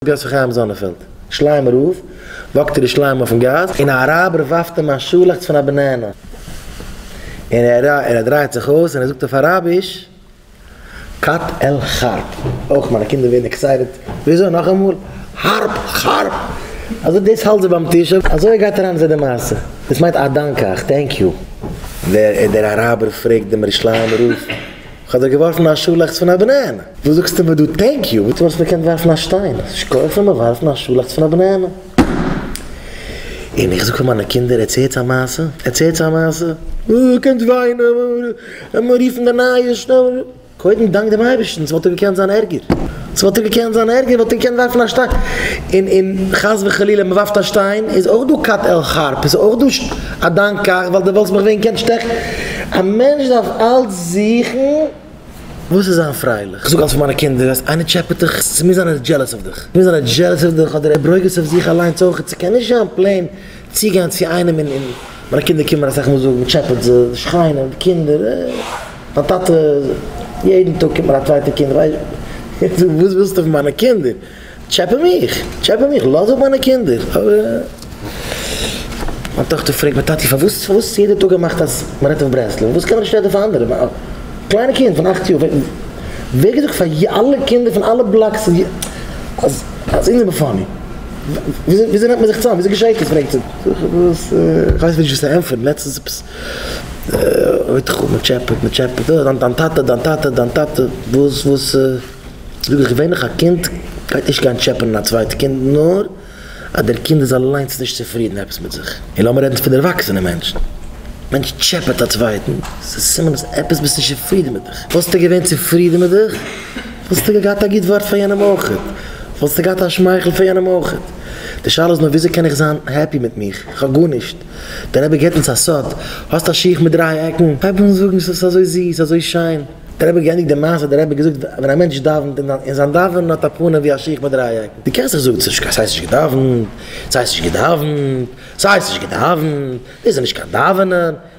גאס פון חיים זאנענפעלד, שליימער רב, וואקט ירושלים אויפן גאס, און א אראבער ווארפט אים א שאלעכץ פון א בענענע, און ער ער דרייט זיך אויס און ער זאגט אויף אראביש, קט על חרב, אויך מיינע קינדער ווערן עקסייטעד, וויאזוי נאכאמאל? חרב! חרב! אז אויב דאס האלט זיי ביים טיש, אזוי גייט אריין אין זיי די מעשה, דאס מיינט א דאנק אייך, טענק יו. ווער איז דער אראבער פרעגט דעם ירושלימער רב. כ'האב דיר געווארפן א שאלעכץ פון א בענענע! וואס זאגסטו מיר דא טענק יו? וואס מ'האט געקענט ווארפן א שטיין? ס'נישט כח פון מיר ווארפן א שאלעכץ פון א בענענע! און איך זאג פאר מיינע קינדער ערצעלטס א מעשה, ערצעלטס א מעשה, אוי קומט וויינען, לאמיר רופן די נייעס שנעל, קודם דאנק דעם אייבערשטן, ס'וואלט דאך געקענט זיין ערגער. ס'וואלט טאקע געקענט זיין ערגער, וואלט ער געקענט ווארפן א שטיין, און און חס וחלילה מ'ווארפט א שטיין איז אויך דא כת על חרב, איז אויך דא א דיין כך ווייל דו וואלסט מיך ווען געקענט שטעכן, א מענטש דארף אלץ זוכן וואס איז זיין פרייליך, כ'זאג אלץ פאר מיינע קינדער אז איינער טשעפעט דיך, ס'מוז זיין ער איז דזשעלעס אויף דיך, ס'מוז זיין ער איז דזשעלעס אויף דיך אדער ער ברוגז אויף זיך אליינס אויך, ס'קען נישט זיין פלעין. צוגיין צו איינעם און און מיינע קינדער קומען אסאך מאל זאגן טשעפעט זיי, שרייען אויף די קינדער, מיין טאטע יעדן טאג קומט מיר א צווייטע קינד, איך זאג וואס ווילסטו פון מיינע קינדער, טשעפע מיך, טשעפע מיך, לאז אפ מיינע קינדער, מיין טאכטער פרעגט מיר טאטי פארוואס פארוואס יעדע טאג געמאכט אז מען רעדט אויף ברסלב, וואס קען איך נישט רעדן פאר אנדערע, א קליינע קינד פון אכט יאר, ווער האט געזאגט פאר אלע קינדער פון אלע בלאקס אז אונז זעמער פאני. וויאזוי נעמט מען זיך צוזאם? וויאזוי געשעהט עס? פרעגט זי. זאג איך וואס? איך ווייס נישט וואס צו ענטפערן. לעצטנס עפעס אויך איך האב מ'טשעפעט מ'טשעפעט. אה, דיין דיין טאטע, דיין טאטע, דיין טאטע. וואס וואס? זאג איך ווען איך א קינד גייט נישט גיין טשעפענען א צווייטע קינד נאר אז דער קינד איז אליינס נישט צופרידן עפעס מיט זיך. און לאמיר רעדן פון ערוואקסענע מענטשן. מענטש טשעפעט א צווייטן, ס'איז סימן אז עפעס ביסט נישט צופרידן מיט דיך. וואלסטו געווען צופרידן מיט דיך? וואלסטו געהאט א גוט ווארט פאר יענעם אויך, וואלסטו געהאט א שמייכל פאר יענעם אויך, די שאלה איז נאר וויאזוי קען איך זיין העפי מיט מיך, איך האב גארנישט, דער רבי געבט אונז א סוד, האסט א שיך מיט דריי עקן, הייב אן זאגן ס'איז אזוי זיס, אזוי שיין, דער רבי האט געענדיגט די מעשה, דער רבי האט געזאגט ווען א מענטש דאווענט און זיין דאווענען האט א פנים ווי א שיך מיט דריי עקן, דו קענסט זיך זאגן צווישן קיין ס'הייסט נישט געדאווענט, ס'הייסט נישט געדאווענט, ס'הייסט נישט געדאווענט, דאס איז נישט קיין דאווענען,